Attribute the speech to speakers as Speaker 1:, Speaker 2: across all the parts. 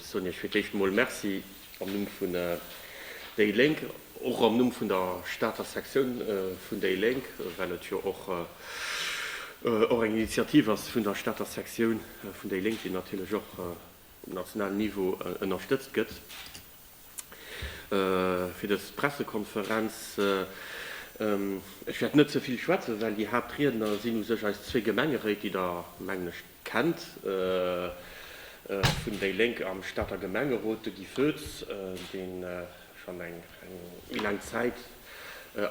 Speaker 1: Soen ech fir d'éischt emol Merci am Numm vun déi Lénk, och am Numm vun der Stater Sektioun vun déi Lénk, well et jo och eng Initiativ ass vun der Stater Sektioun vun déi Lénk, déi natierlech och um nationalen Niveau ënnerstëtzt gëtt. fir dës Pressekonferenz. Ech wäert net ze vill schwätzen, well déi Haaptriedner sinn u sech eis zwee Gemengeréit, déi Der, mengen ech, kennt, vun déi Lénk am Stater Gemengerot, de Guy Foetz, dee schonn eng méi laang Zäit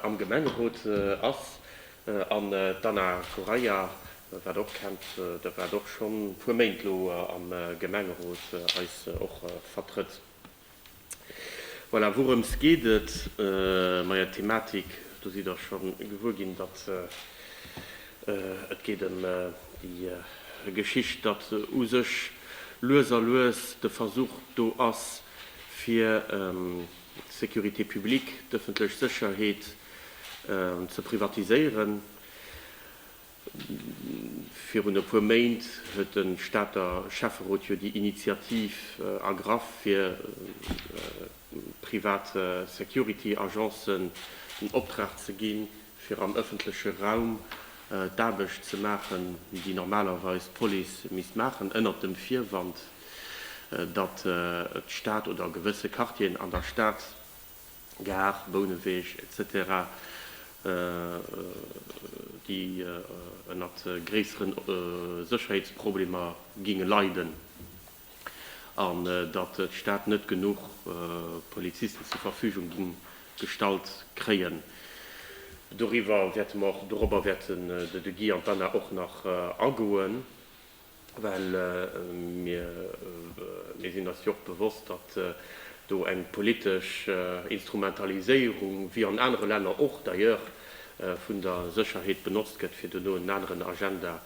Speaker 1: am Gemengerot ass, an d'Anna Correia, Dat waart och kennt, dat waart och schon puer Méint elo am Gemengerot eis och vertrëtt. Voilà, wourëms geet et? Maja, d'Thematik, do sidd der schon gewuer ginn, datt et geet em déi Geschicht, datt u sech lues a lues de Versuch do ass fir d'Sécurité publique, d'ëffentlech Sécherheet, ze privatiséieren. Virun e puer Méint huet de Stater Schäfferot jo déi Initiativ ergraff, fir private Security Agencen den Optrag ze ginn, fir am ëffentleche Raum d'Aarbecht ze maachen, déi normalerweis d'Police misst maachen, ënnert dem Virwand, datt d'Stad oder gewësse Quartieren an der Stad Gare, Bouneweg, etc. Déi ënnert gréisseren Sécherheetsproblemer géinge leiden an datt d'Stad net genuch Polizisten zur Verfügung géing gestallt kréien. Doriwwer wäerte mer och, dorobber wäerten de Guy an d'Anna och nach agoen. Well mir sinn eis jo och bewosst, datt do eng politesch Instrumentaliséierung, wéi an anere Länner och d'ailleurs, vun der Sécherheet benotzt gëtt, fir duerno en aneren Agenda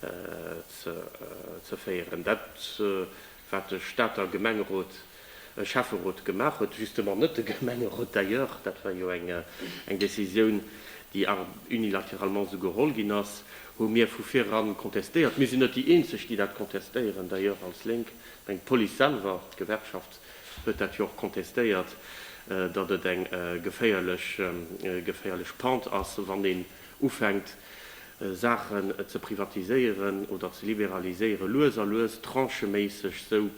Speaker 1: ze féieren. Dat wat de Stater Gemengerot, Schäfferot gemaach huet, justement net de Gemengerot d'ailleurs, dat war jo eng Décisioun, déi unilateralement esou geholl ginn ass, hu mir vu viran contestéiert. Mir sinn net déi Eenzeg, déi dat contestéieren, d'ailleurs als Lénk. Ech mengen, d'Police selwer, d'Gewerkschaft huet dat jo och contestéiert, datt et eng geféierlech Pente ass, wann ee ufänkt Saachen ze privatiséieren oder ze liberaliséiere lues a lues, trancheméisseg, sou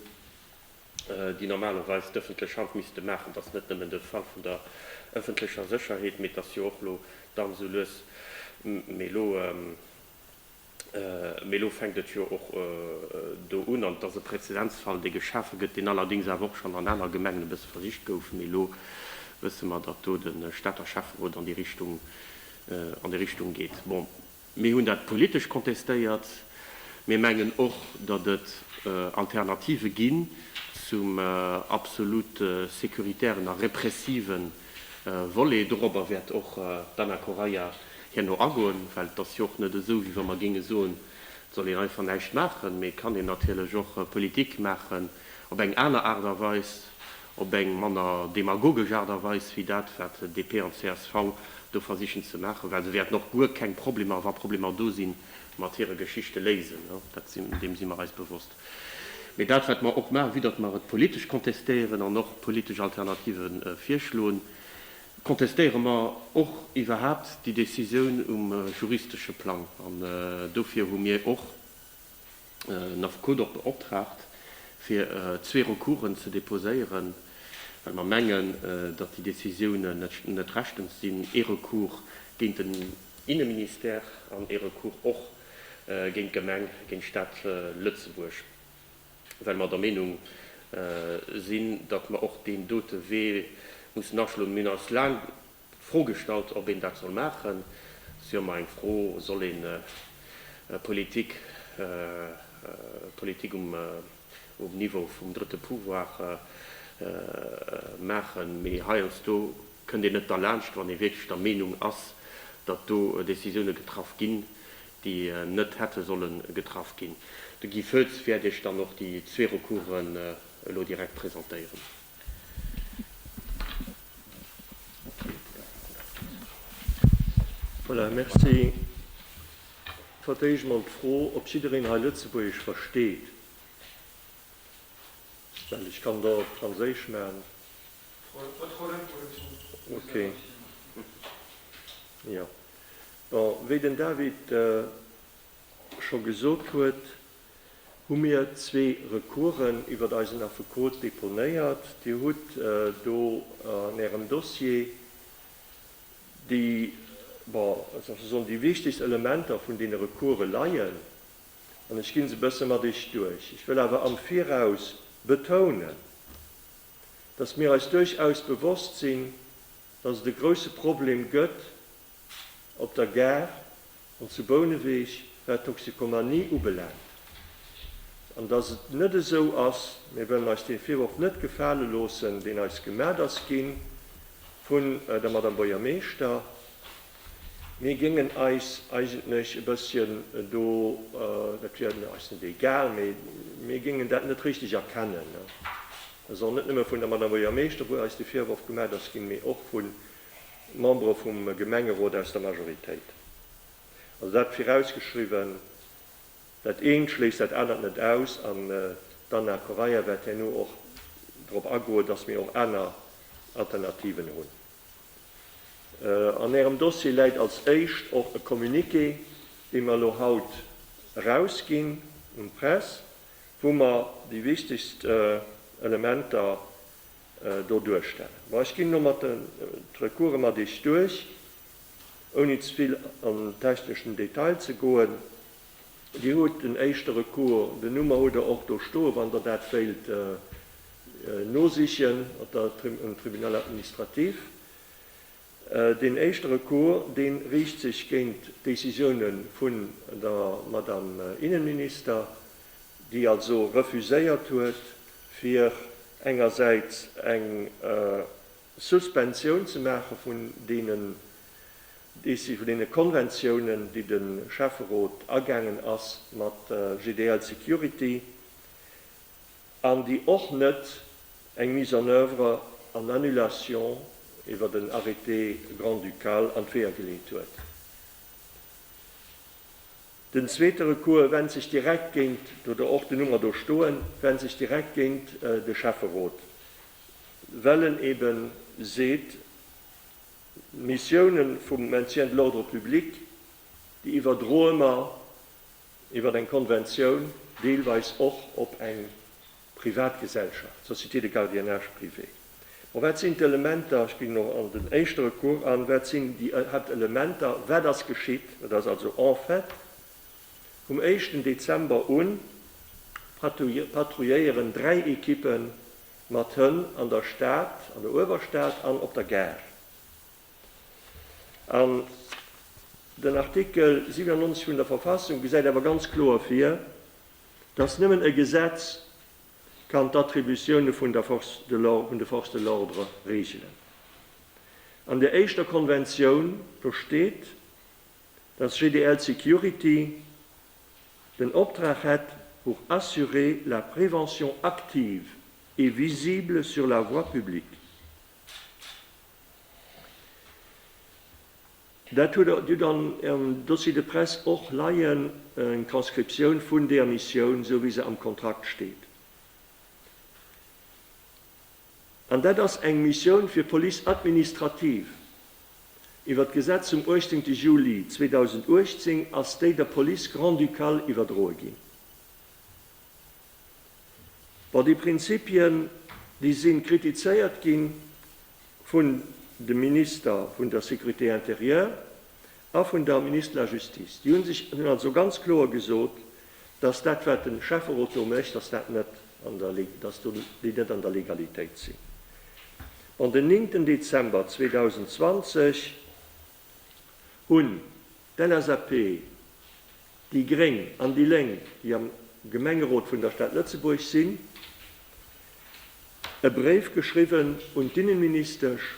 Speaker 1: déi normalerweis d'ëffentlech Hand misste maachen, dass net nëmmen de Fall vun der ëffentlecher Sécherheet, mee dass jo och lo dann sou lues, mee lo. Mee elo fänkt et jo och do un, an et ass e Präzedenzfall, dee geschafe gëtt, deen allerdéngs awer och schonn an aner Gemengen e bësse versicht gouf. Mee elo wësse mer, datt do de Stater Schäfferot an déi Richtung, an déi Richtung geet. Bon, mir hunn dat politesch kontestéiert. Mir mengen och, datt et Alternative ginn zum absolut securitären a repressiven Volet. Dorobber wäert och d'Ana Correia herno agoen, well et ass jo och net esou, wéi wa mer géinge soen, et soll een einfach näischt maachen, mee et kann een natierlech och Politik maachen op eng aner Aart a Weis, op eng manner demagogesch Aart a Weis, wéi dat, wat DP an csv do versichen ze maachen, well se wäerten och guer keng Problemer, wa Problemer do sinn, mat hire Geschichte léisen. Dat si, deem si mer eis bewosst. Mee dat wat mer och maachen, vue datt mer et politesch kontestéieren an och politesch Alternative virschloen, kontestéiere mer och iwwerhaapt déi Décisioun um juristesche Plang. An dofir hu mir och den Affekot och beoptraagt, fir zwee Recoursen ze deposéieren, well mer mengen, datt déi Décisiounen net rechtens sinn, ee Recours géint den Inneministère an ee Recours och géint d'Gemeng, géint d'Stad Lëtzebuerg, well mer der Meenung sinn, datt mer och deen dote Wee mussen aschloen. Mir hunn eis laang d'Fro gestallt, ob een dat soll maachen. Et ass jo ëmmer eng Fro, Soll een Politik, Politik um Niveau vum drëtte Pouvoir maachen? Mee heiansdo kënnt een net derlaanscht, wann ee wierklech der Meenung ass, datt do Décisioune getraff ginn, déi net hätte solle getraff ginn. De Guy Foetz wäert Iech dann och déi zwee Recoursen elo direkt presentéieren. Voilà, merci. Ech hat éischt emol d'Fro, ob jiddereen hei Lëtzebuergesch versteet, well ech kann et och op Franséisch maachen. Ok jo bon wéi den David scho gesot huet, hu mir zwee Recoursen iwwert eisen Affekot deponéiert. Dir hutt do an Ärem Dossier déi, bon wéi soll ech soen, déi wichtegst Elementer vun deene Recourse leien an ech ginn se e bësse mat Iech duerch. Ech wëll awer am Viraus betounen, dass mir eis duerchaus bewosst sinn, dass et e grouse Problem gëtt op der Gare an zu Bouneweg, wat d'Toxikomanie ubelaangt, an dass et net esou ass, mir wëllen eis dee Virworf net gefale loossen, deen eis gemat ass gi vu der Madame Buergermeeschter, Mir géingen eis eigentlech e bësschen do, dat wier eis net egal, mee mir géingen dat net richteg erkennen, dass och net nëmme vun der Madame Buergermeeschter, wou eis de Virworf gemat ass ginn, mee och vu Membere vum Gemengerot aus der Majoritéit. Also dat virausgeschriwwen, dat eent schléisst dat anert net aus. An d'Anna Correia wäert herno och drop agoen, dass mir och aner Alternativen hunn. An Ärem Dossier läit als éischt och e Communiqué, dee mer elo haut erausginn un d'Press, wou mer déi wichtegst Elementer do duerstellen. Bon, ech ginn elo mat den d'Recourse mat Iech duerch, ouni ze vill an techneschen Detail ze goen. Dir hutt en éischte Recours, den Nummer hutt Der och do stoe wann Der dat wéilt nosichen op der, um Tribunal administratif. Deen éischte Recours, dee riicht sech géint d'Décisioune vun der Madame Innenminister, déi also refuséiert huet, fir engersäits eng Suspensioun ze maache vun deenen Deci-, vun deene Konventiounen, déi de Schäfferot agaangen ass mat GDL Security, an déi och net eng Mise en oeuvre an Annulation iwwert en Arrêté grand-ducal an d'Weeër geleet huet. Den zweete Recours went sech direkt géint, oder och den Nummer do stoen, went sech direkt géint de Schäfferot. well en ebe seet, d'Missioune vum Maintien de l'ordre public, déi iwwerdroe mer iwwer eng Konventioun deelweis och op eng privat Gesellschaft, Société de gardiennage privé. Bon, wat sinn d'Elementer, ech ginn elo an den éischte Recours an, wat sinn déi Haaptelementer, wat ass geschitt? Et ass also en fait vum éischten Dezember un patrouilléieren dräi Ekippe Mat Hënn an der Stad, an der Uewerstad an op der Gare. An den Artikel 97 vun der Verfassung gesäit awer ganz kloer vir, datt nëmmen e Gesetz kann d'Attributioune vun de Forces de l'ordre reegelen. An där éischter Konventioun, do steet, dass GDL Security den Optrag hätt pour assurer la prévention active et visible sur la voie publique. Dat hutt Dir dann an Ärem Dossier de presse och leien, eng Transcriptioun vun deer Missioun, esou wéi se am Kontrakt steet. An dat ass eng Missioun fir Police administrative. Iwwer d'Gesetz vum 18 Juli 2018 ass déi der Police grand-ducale iwwerdroe ginn. Bon, déi Prinzipien, déi si kritizéiert gi vun de Minister vun der Sécurité intérieure. A vun der Ministre de la Justice. Déi hunn sech, hunn also ganz kloer gesot, dass dat wat de Schäfferot do mécht, dass dat net an der, dass do déi net an der Legalitéit sinn. Bon, den 9 Dezember 2020 hunn d'LSAP, déi gréng an déi Lénk, déi am Gemengerot vun der Stad Lëtzebuerg sinn, e Bréif geschriwwen un d'Innenministesch,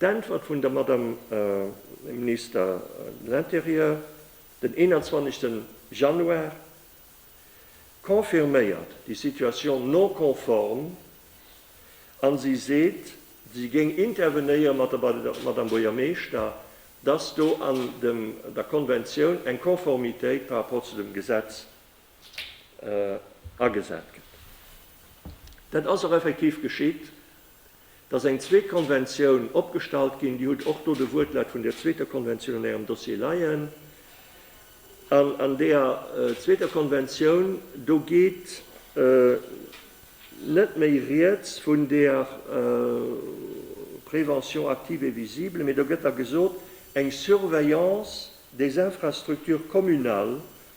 Speaker 1: D'Äntwert vun der Madame Minister de l'Intérieur den 21 Januar confirméiert déi Situation non conforme a si seet, si géing intervenéiere mat der Madame Buergermeeschter, dass do an der Konventioun eng Konformitéit par rapport zu dem Gesetz agesat gëtt. Dat ass och effektiv geschitt. Et ass eng zweet Konventioun opgestallt ginn. Dir hutt och do de Wuertlaut vun där zweeter Konventioun an Ärem Dossier leien. An an där zweeter Konventioun, do geet net méi Rieds vun där Prévention active et visible, mee do gëtt da gesot, eng Surveillance des infrastructures communales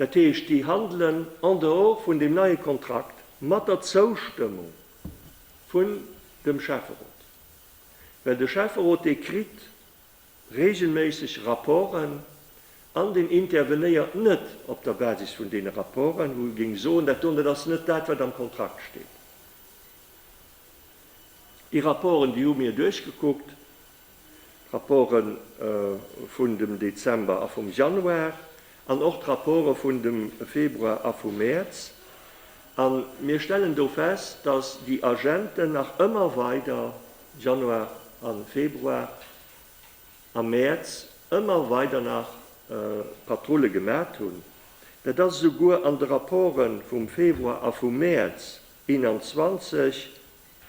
Speaker 1: dat heescht déi handelen en dehors vun deem neie Kontrakt mat der Zoustëmmung vun dem Schäfferot, well de Schäfferot dee kritt reegelméisseg Rapporten an deen intervenéiert net op der Basis vun deene Rapporten, wou e géing soen, dat doten, dat ass net dat, wat am Kontrakt steet. Déi Rapporten, déi hu mir duerchgekuckt, D'Rapporte vun dem Dezember a vum Januar an och d'Rapporte vun dem Februar a vum Mäerz. A mir stellen do fest, dass déi Agenten nach ëmmer weider, Januar a Februar a Mäerz, ëmmer weider nach Patrulle gemat hunn. Dat ass esouguer an de Rapporte vum Februar a vum Mäerz 21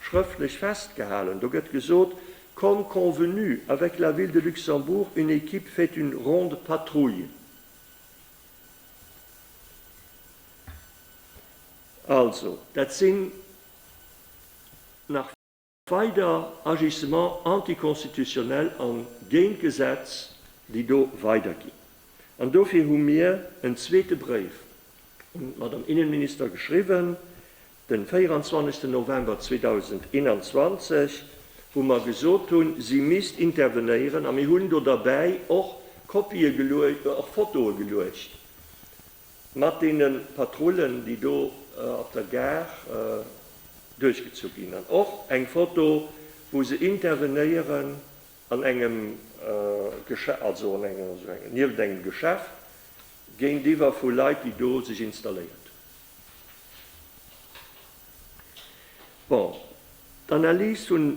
Speaker 1: schrëftlech festgehalen. Do gëtt gesot, Comme convenu avec la Ville de Luxembourg, une équipe fait une ronde patrouille. Also, dat sinn nach weider Agissements anticonstitutionnels a géint d'Gesetz, déi do weiderginn. An dofir hu mir en zweete Bréif un d'Madame Innenminister geschriwwen, Den 24 November 2021, wou mer gesot hunn, si misst intervenéieren, a mir hunn do derbäi och Kopië geluecht, och Fotoe geluecht mat deene Patrullen, déi do op der Gare duerchgezu ginn, an och eng Foto, wou se intervenéieren an engem Geschäft, also an engem, nieft engem Geschäft, géintiwwer vu Leit, déi do sech installéiert hunn. Bon, d'Analys vun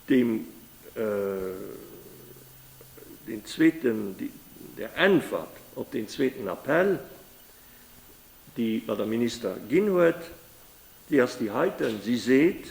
Speaker 1: deem, deen zweeten, der Äntwert op deen zweeten Appell, déi d'Madame Minister ginn huet, déi ass déi heiten. Si seet,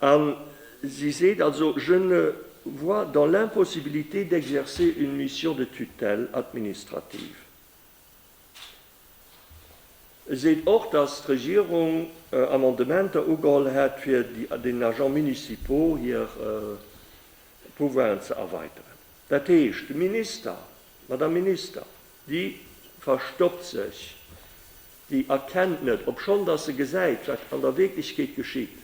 Speaker 1: A si seet also, Je ne vois dans l'impossibilité d'exercer une mission de tutelle administrative. E seet och, datt d'Regierung Amendementer ugeholl hätt, fir den Agents municipaux hir Pouvoiren ze erweiteren. Dat heescht, de Minister, d'Madame Minister, Déi verstoppt sech, déi erkennt net, obschonn dass se gesäit, wat an der Wierklechkeet geschitt,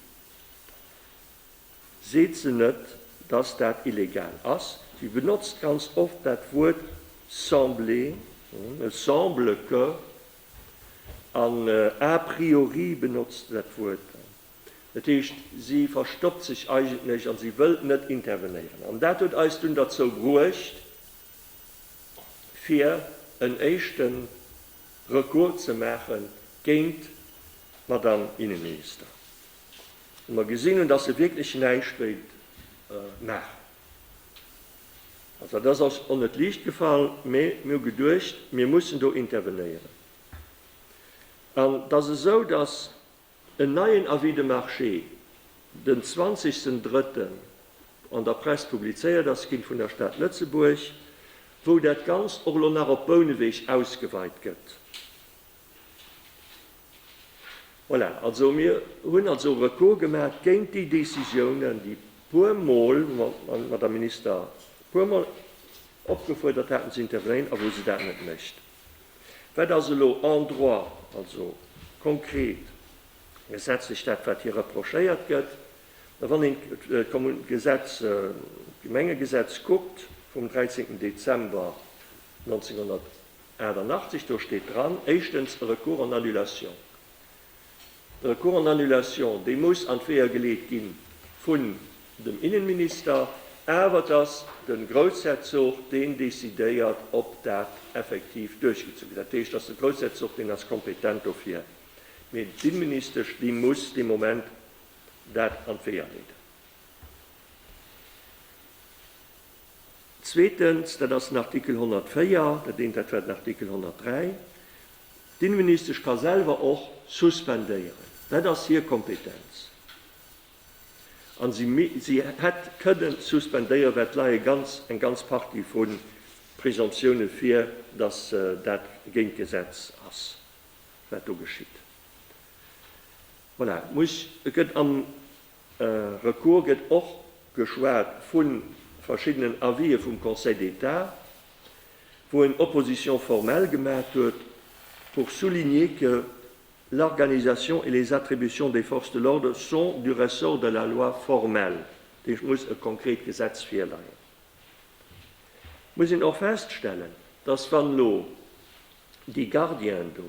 Speaker 1: seet se net, dass dat illegal ass. Si benotzt ganz oft dat Wuert sembler, et semble que, an a priori benotzt se dat Wuert. Dat heescht, si verstoppt sech eigentlech a si wëllt net intervenéieren. An dat huet eis dunn derzou bruecht, fir en éischte Recours ze maache géint d'Madame Innenminister, wou mer gesinn hunn, datt se wierklech näischt wéilt maachen. Also dat ass eis och net liicht gefall, mee mir hu geduecht, mir mussen do intervenéieren. An et ass esou, datt En neien Avis de marché, den 20 ten drëtten an der Press publizéiert ass ginn vun der Stad Lëtzebuerg, wou dat Ganzt och elo nach op Bouneweg ausgeweit gëtt. Voilà, also mir hunn also e Recours gemaach géint déi Décisiounen, déi puer Mol, wou mer d'Madame Minister puer Mol opgefuerdert haten ze intervenéieren a wou se dat net mécht. Wat ass elo en droit, also konkret gesetzlech dat, wat hir reprochéiert gëtt? Wann een d'Gesetz, d'Gemengegesetz kuckt vum 13 Dezember 1988, do steet dran, éischtens e Recours en annulation. De Recours en annulation, dee muss an d'Weeër geleet gi vun dem Innenminister, awer et ass de Groussherzog, deen decidéiert, ob dat effektiv duerchgezu gëtt. Dat heescht, et ass de Groussherzog, deen ass kompetent dofir, mee d'Inneministesch, déi muss dee Moment dat an d'Weeër leeden. Zweetens, dat ass den Artikel 104, dat eent, dat war den Artikel 103, D'Inneministesch ka selwer och suspendéieren, dat ass hir Kompetenz. A si hätt kënnen suspendéieren, well et leie ganz eng ganz Partie vu Presomptiounen vir, datt dat géint d'Gesetz ass, wat do geschitt. Voilà, muss, gëtt an. Recours gëtt och geschwat vu verschiddenen Avisë vum Conseil d'État, wou en Opposition formelle gemat huet pour souligner que l'organisation et les attributions des forces de l'ordre sont du ressort de la loi formelle. Dat heescht, et muss e konkret Gesetz virleien. Et muss een och feststellen, dass wann elo déi Gardienen do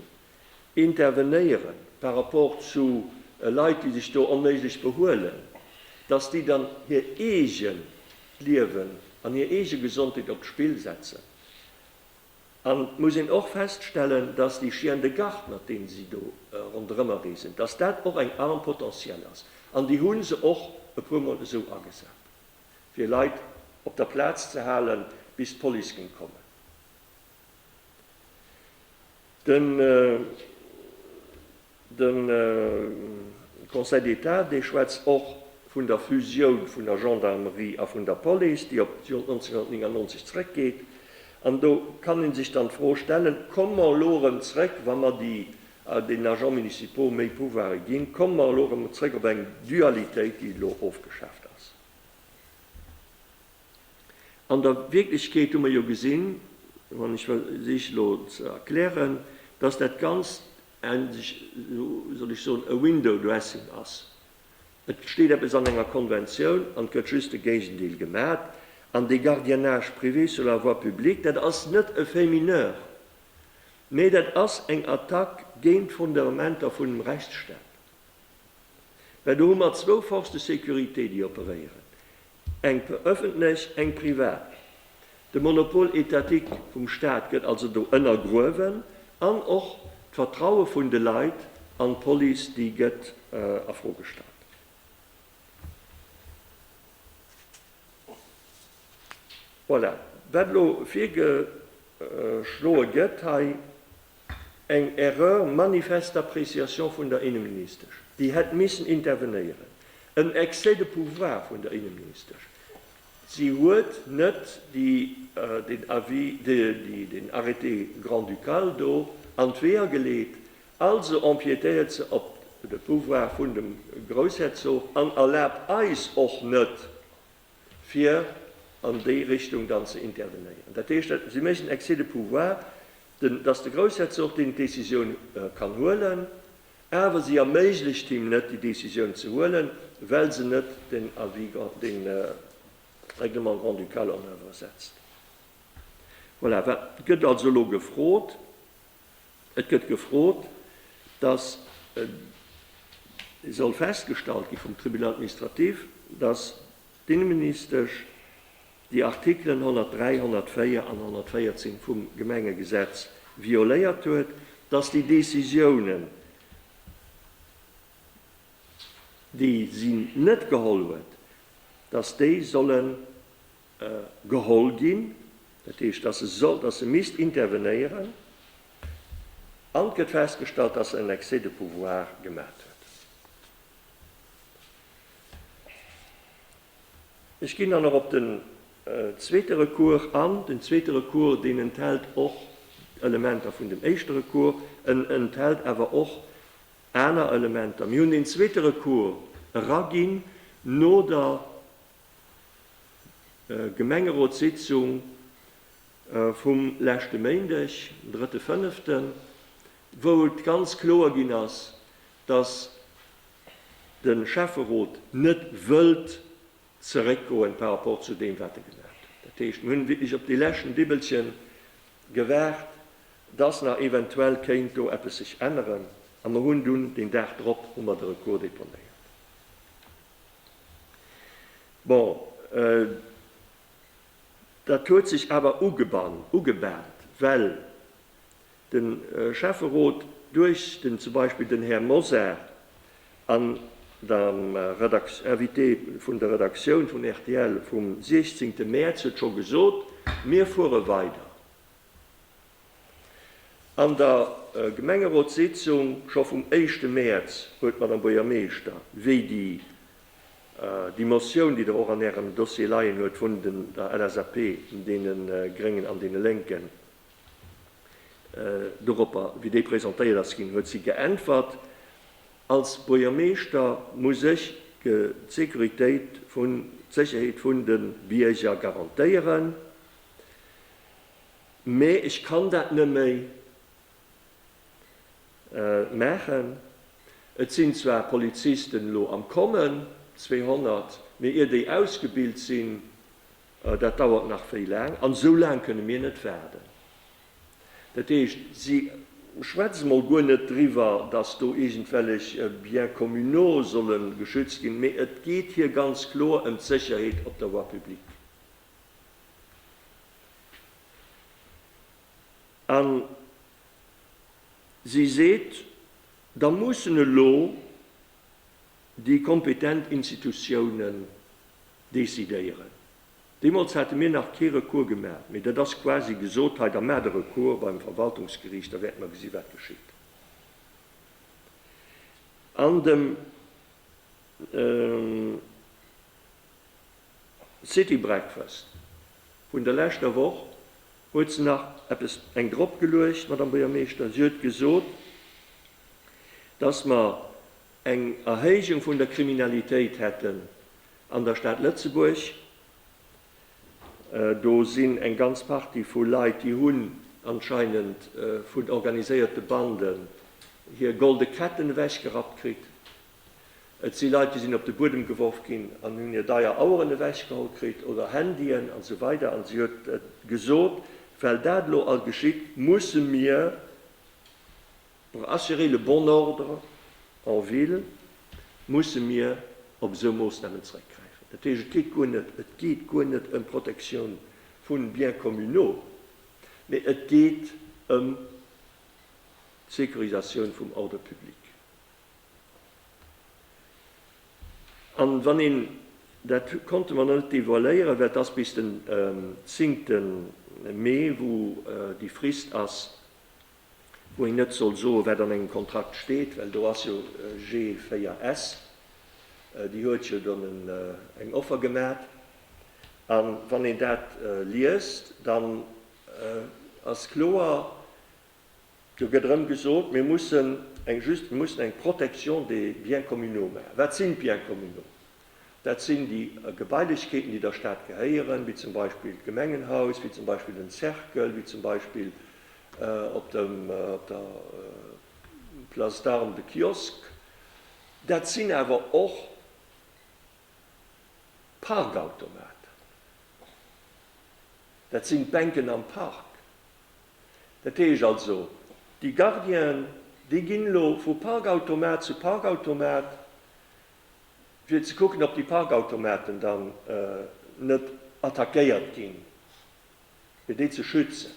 Speaker 1: intervenéieren par rapport zu Leit, déi sech do onméiglech behuelen, datt déi dann hir eegent Liewen an hir eege Gesondheet op d'Spill setzen. An et muss een och feststellen, datt déi Chiens de garde, mat deene si do ronderëmreesen, datt dat och eng Arme potentielle ass. An déi hu se och e puermol esou agesat, fir Leit op der Plaz ze halen, bis d'Police géing kommen. Den Conseil d'État, dee schwätzt och vun der Fusioun vun der Gendarmerie a vun der Police, déi op d'Joer 1999 zréckgeet. An do kann ee sech dann d'Fro stellen, Komme mer elo erëm zréck, wa mer den Agents municipaux méi Pouvoire ginn, komme mer elo erëm zréck op eng Dualitéit, déi elo ofgeschaaft ass? An der Wierklechkeet hu mer jo gesinn, an ech versiche elo ze erklären, dass dat Ganzt en, wéi soll ech soen, e window dressing ass. Et steet eppes an enger Konventioun an et gëtt just de Géigendeel gemat. An dee Gardiennage privé sur la voie publique, dat ass net e fait mineur, mä dat ass eng Attack géint d'Fondementer vun dem Rechtsstaat, well do hu mer zwou Forces de sécurité, déi operéieren. Eng öffentlech, eng privat. De Monopole étatique vum Staat gëtt also do ënnergruewen an och d'Vertraue vun de Leit an d'Police, déi gëtt a Fro gestallt. Voilà, wat elo virgeschloe gëtt hei. eng Erreur manifeste d'appréciation vun der Inneministesch, déi hätt missen intervenéieren, en Excès de pouvoir vun der Inneministesch. Si huet net den Avis, den Arrêté grand-ducal do an d'Weeër geleet, also empiétéiert se op de Pouvoir vun dem Groussherzog an erlaabt eis och net, fir an déi Richtung dann ze intervenéieren. Dat heescht, si méchen Excès de pouvoir, dass de Groussherzog deen d'Décisioun kann huelen, awer si erméiglecht him net, déi Décisioun ze huelen, well se net den Avis grand, de Règlement grand-ducal en oeuvre setzt. Voilà, wat gëtt also elo gefrot? Et gëtt gefrot, dass soll festgestallt gi vum Tribunal administratif, dass d'Inneministesch déi Artikelen 103, 104 an 114 vum Gemengegesetz violéiert huet, dass déi Décisiounen, déi si net geholl huet, dass déi solle geholl ginn, dat heescht, dass se soll, dass se misst intervenéieren, an et gëtt festgestallt, dass se en Excès de pouvoir gemaat huet. Ech ginn dann och op den zweete Recours an. Den zweete Recours, deen enthält och Elementer vun dem éischte Recours, en enthält awer och aner Elementer. Mir hunn deen zweete Recours eraginn no der Gemengerotssitzung vum leschte Méindeg, den drëtte fënneften, wou et ganz kloer ginn ass, datt de Schäfferot net wëllt zeréckgoen par rapport zu deem, wat e gemaach huet. Dat heescht, mir hunn wierklech op dee leschten Dibbelchen gewaart, datt nach eventuell kéint do eppes sech änneren, a mer hunn dunn deen Dag drop hu mer de Recours deponéiert. Bon, dat huet sech awer ugebant, well de Schäfferot duerch den, zum Beispill den Här Mosar an Invité vun der Redaktioun vun rtl vum 16 Mäerz huet scho gesot, Mir fuere weider. An der Gemengerotssitzung scho vum éischte Mäerz huet d'Madame Buergermeeschter, wéi déi déi Motioun, déi Der och an Ärem Dossier leien huet vun der LSAP, deene Gréngen an deene Lénken, doropper, wéi déi presentéiert ass ginn, huet si geäntwert, Als Buergermeeschter muss ech d'Securitéit vun, d'Sécherheet vun de Bierger garantéieren. Mee ech kann dat nëmméi maachen. Et sinn zwar Polizisten elo am Kommen, 200, mee ier déi ausgebilt sinn, dat dauert nach wéi laang. An esou laang kënne mir net waarden. Dat heescht, si schwätze mol guer net driwwer, datt do iergendwellech Biens communaux solle geschützt ginn, mee et geet hir ganz kloer ëm d'Sécherheet op der Voie publique. A si seet, da mussen elo déi kompetent Institutiounen decidéieren. Deemools hate mir nach kee Recours gemaach, mee dat ass quasi gesot, hei, da maacht e Recours beim Verwaltungsgeriicht, da wäerte mer gesi wat geschitt. An dem. City Breakfast vun der leschter Woch, huet se nach eppes eng drop geluecht, d'Madame Buergermeeschter. Si huet gesot, dass mer eng Erhéijung vun der Kriminalitéit hätten an der Stad Lëtzebuerg. Do sinn eng ganz Partie vu Leit, déi hunn anscheinend vun organiséierte Banden hir golde Ketten ewechgerappt kritt. Et si Leit, déi sinn op de Buedem geworf ginn an hunn hir deier Aueren ewechgeholl kritt oder Handyen an esou weider an si huet gesot, well dat elo all geschitt, musse mir pour assurer le bon ordre en ville musse mir op esou Moossnamen zréckgräifen. Dat heescht, et geet guer net, et geet guer net ëm d'Protektioun vu Biens communaux, mee et geet ëm d'Securisatioun vum Ordre public. An wann een, dat konnte mer net devoiléieren, well et ass bis den zingte Mee wou déi Frist ass, wou een net soll soen, wat an engem Kontrakt steet, well do ass jo G4S, déi huet jo dann eng Offer gemat. A wann een dat liest, dann ass kloer, Do gëtt erëm gesot, mir mussen eng just, mir mussen eng Protection des biens communaux maachen. Wat sinn d'Biens communaux? Dat sinn déi Gebailechkeeten, déi der Stad gehéieren, wéi zum Beispill d'Gemengenhaus, wéi zum Beispill den Cercle, wéi zum Beispill op dem, op der Place d'Armes de Kiosk. Dat sinn awer och d'Parkautomaten. Dat sinn d'Bänken am Park. Dat heescht also, déi Gardienen, déi ginn elo vu Parkautomat zu Parkautomat, fir ze kucken, ob déi Parkautomaten dann net attackéiert ginn, fir déi ze schützen.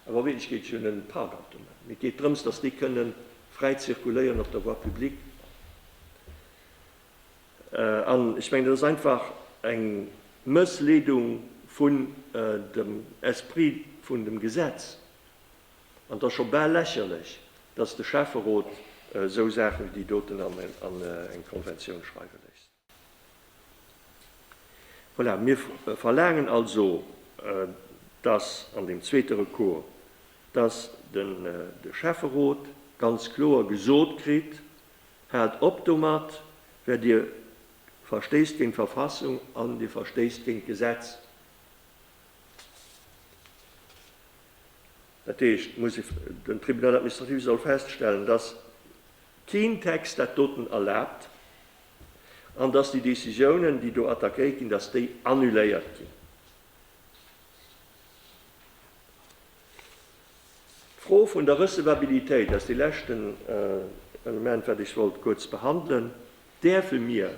Speaker 1: Awer a Wierklechkeet ass et jo net e Parkautomat, mee et geet drëms, dass déi kënnen fräi zirkuléieren op der Voie publique. An ech mengen, dat ass einfach eng Mëssleedung vun dem Esprit vun dem Gesetz. An et ass scho bal lächerlech, datt de Schäfferot esou Saachen wéi déi doten an eng Konventioun schreiwe léisst. Voilà, mir verlaangen also, datt an deem zweete Recours, datt de Schäfferot ganz kloer gesot kritt, Haalt op domat, well Dir verstéisst géint d'Verfassung an Dir verstéisst géint d'Gesetz. Dat heescht, den Tribunal administratif soll feststellen, dass keen Text dat doten erlaabt an dass déi Décisiounen, déi do attackéiert ginn, dass déi annuléiert ginn. D'Fro vun der Recevabilitéit ass dee leschten Element, wat ech wollt kuerz behandelen. Däerfe mir,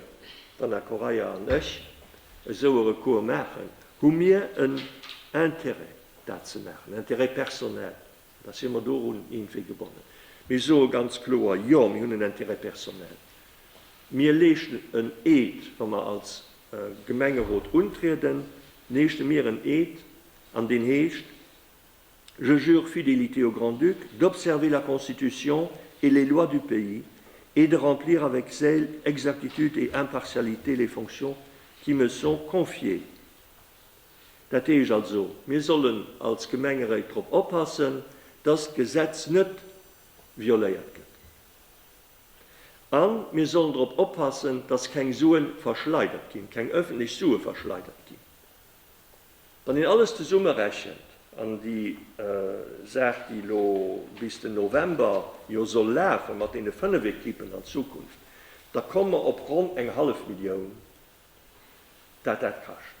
Speaker 1: d'Anna Correia an ech, esou e Recours maachen? Hu mir en Intérêt, dat ze maachen, Intérêt personnel? Oder si mer dorun iergendwéi gebonnen? Mir soe ganz kloer, Jo, mir hunn en Intérêt personnel. Mir leeschten en Eed, wa mer als Gemengerot untrieden, leeschte mir en Eed an deen heescht Je jure fidélité au Grand-Duc, d'observer la Constitution et les lois du pays et de remplir avec zèle, exactitude et impartialité les fonctions qui me sont confiées. Dat heescht also, mir sollen als Gemengeréit drop oppassen, dass d'Gesetz net violéiert gëtt. A mir sollen drop oppassen, dass keng Suen verschleidert ginn, keng öffentlech Sue verschleidert ginn. Wann een alles zesummerechent, an déi Saach, déi elo bis den November jo soll lafen, mat deene 5 Equipen an Zukunft, da komme mer op ronn eng hallef Millioun, dat dat kascht.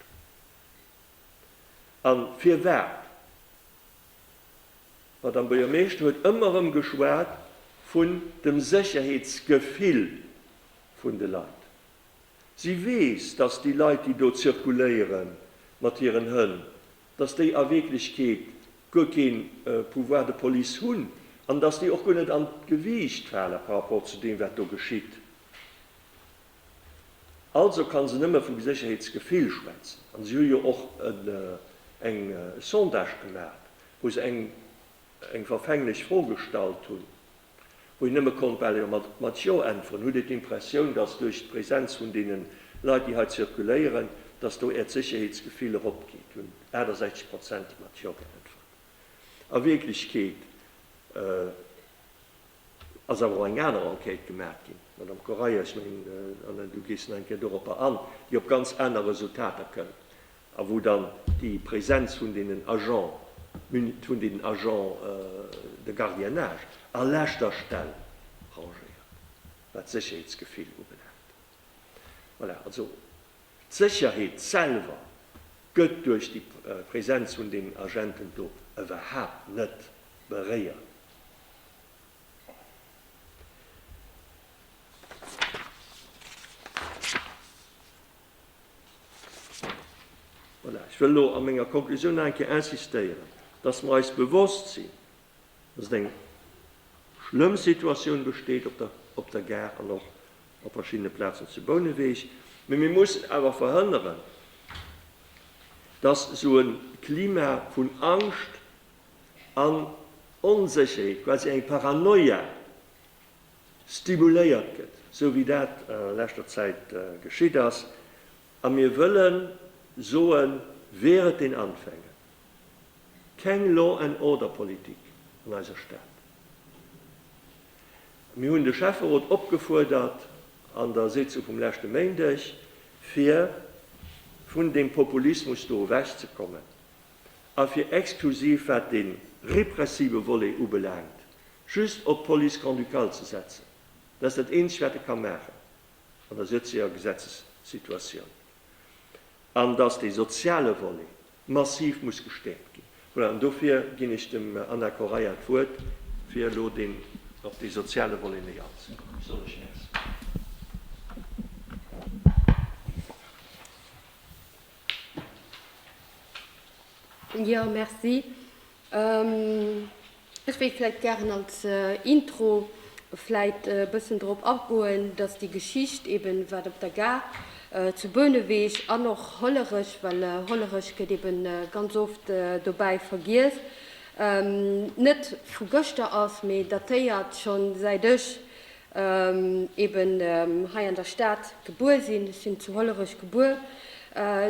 Speaker 1: A firwat? D'Madame Buergermeeschter huet ëmmer erëm geschwat vun dem Sécherheetsgefill vun de Leit. Si weess, dass déi Leit, déi do zirkuléiere mat hiren Hënn, dass déi a Wierklechkeet guer kee Pouvoir de police hunn an dass déi och guer net an d'Gewiicht fale par rapport zu deem, wat do geschitt. Also ka se nëmme vu Sécherheetsgefill schwätzen. An si hu jo och e Sondage gemaach, wou se eng verfänglech Fro gestallt hunn. wou een nëmme konnt bal jo mat jo äntweren, hutt Dir d'Impressioun, datt duerch d'Präsenz vun deene Leit, déi hei zirkuléieren, datt do Äert Sécherheetsgefill eropgeet? Hunn 68 Prozent mat jo geäntwert. A Wierklechkeet ass awer och eng aner Enquête gemaach ginn, Madame Correia, ech mengen, an du gees nach eng Kéier doropper an, déi op ganz aner Resultater kënnt. a wou dann déi Präsenz vun deenen Agents mun-, vun deenen Agents de gardiennage a leschter Stell rangéiert, wat d'Sécherheetsgefill ubelaangt. Voilà, also d'Sécherheet selwer gëtt duerch déi Präsenz vun deenen Agenten do iwwerhaupt net beréiert. Voilà, ech wëll elo a menger Konklusioun nach eng Kéier insistéieren, dass mer eis bewosst sinn, dass et eng schlëmm Situatioun besteet op der, op der Gare an och op verschiddene Plazen zu Bouneweg. Mee mir mussen awer verhënneren, dass esou e Klima vun Angscht an Onsécherheet, quasi eng Paranoia, stimuléiert gëtt, sou wéi dat a leschter Zäit geschitt ass, a mir wëlle soen, während den Anfängen, keng Law and Order Politik an eiser Stad. Mir hunn de Schäfferot opgefuerdert an der Sitzung vum leschte Méindeg, fir vun deem Populismus do ewech ze kommen a fir exklusiv wat dee repressive Volet ubelaangt, Just op d'Police grand-ducale ze setzen, dat ass dat Eenzegt, wat e ka maachen an der jetzeger Gesetzessituatioun. An datt dee soziale Volet massiv muss gestäerkt ginn. Voilà, an dofir ginn ech dem Anna Correia d'Wuert, fir elo deen op dee soziale Volet méi anzëgoen. Soll ech. Merci. Jo merci. Ech wéilt vläit gären als Intro vläit e bëssen drop agoen, datt déi Geschicht eben wat op der Gare zu Bouneweg an och Hollerech, well Hollerech gëtt eben ganz oft dobäi vergiess, net vu gëschter ass, mee datéiert schonn säit ech eben hei an der Stad gebuer sinn, ech sinn zu Hollerech gebuer,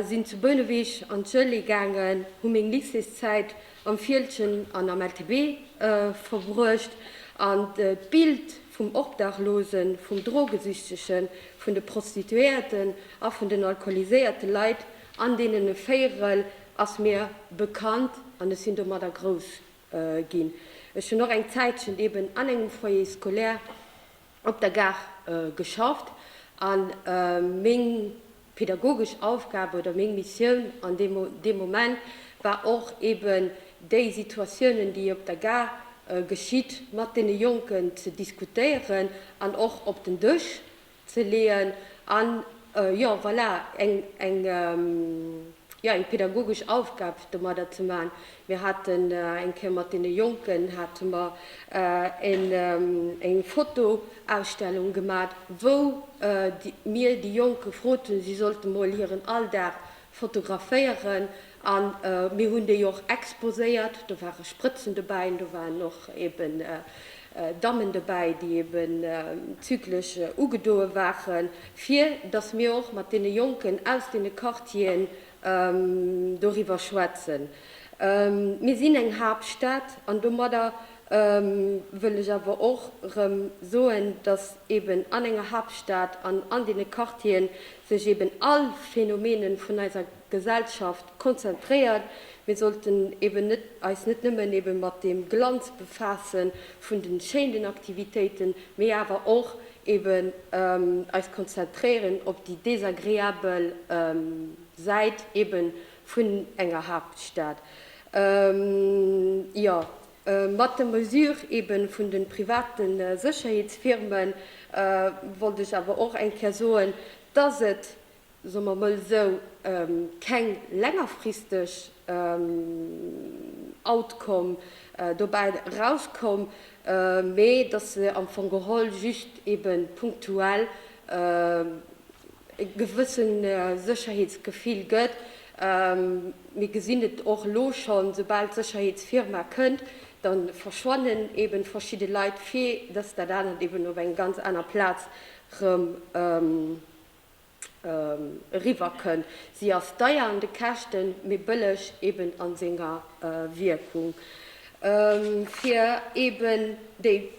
Speaker 1: sinn zu Bouneweg an d'Schoele gaangen, hu meng Lycéeszäit am Fieldgen an am LTB verbruecht an d'Bild vum Obdachlosen, vum Drogesüchtegen, vun de Prostituéierten a vun den alkoholiséierte Leit an deenen e Véierel ass mir bekannt an ech sinn domadder grouss ginn. Ech hunn och eng Zäitchen eben an engem Foyer scolaire op der Gare geschafft a meng pädagogesch Aufgabe oder meng Missioun an deem Moment war och eben déi Situatiounen, déi op der Gare geschitt, mat deene Jonken ze diskutéieren an och op den Dësch ze leeën an jo voilà eng eng jo eng pedagogesch Aufgab domadder ze maachen. Mir haten eng Kéier mat deene Jonken hate mer en eng Fotoausstellung gemat, wou mir déi Jonk gefrot hunn, si sollte mol hiren Alldag fotograféieren, A mir hunn déi och exposéiert. Do ware Sprëtzen dobäi an do waren och eeben Dammen dobäi, déi eeben zyklech ugedoe waren, fir datt mir och mat deene Jonken aus deene Quartieren doriwwer schwätzen. Mir sinn eng Haaptstad an domadder wëll ech awer och erëm soen, datt eeben an enger Haaptstad an an deene Quartiere sech eeben all Phänomene vun eiser. Gesellschaft konzentréiert. Mir sollten eben net, eis net nëmmen eben mat deem Glanz befasse vun den schéinen Aktivitéiten, mee awer och eben eis konzentréieren op déi desagreabel Säit eben vun enger Haaptstad. Jo, mat der Mesure eben vun den private Sécherheetsfirmen wollt ech awer och eng Kéier soen, dass et soe mer emol esou, keng längerfristeg Outcome dobäi erauskoum, mee datt se am Fong geholl just ebe punktuell e gewësse Sécherheetsgefill gëtt. Mir gesinn et och elo schonn, soubal d'Sécherheetsfirma kënnt, da verschwannen ebe verschidde Leit, fir datt dat anert eben op enger ganz anerer Plaz erëm eriwwer kënn. Si ass deier an de Käschten, mee bëlleg eben an senger Wierkung. Fir eben déi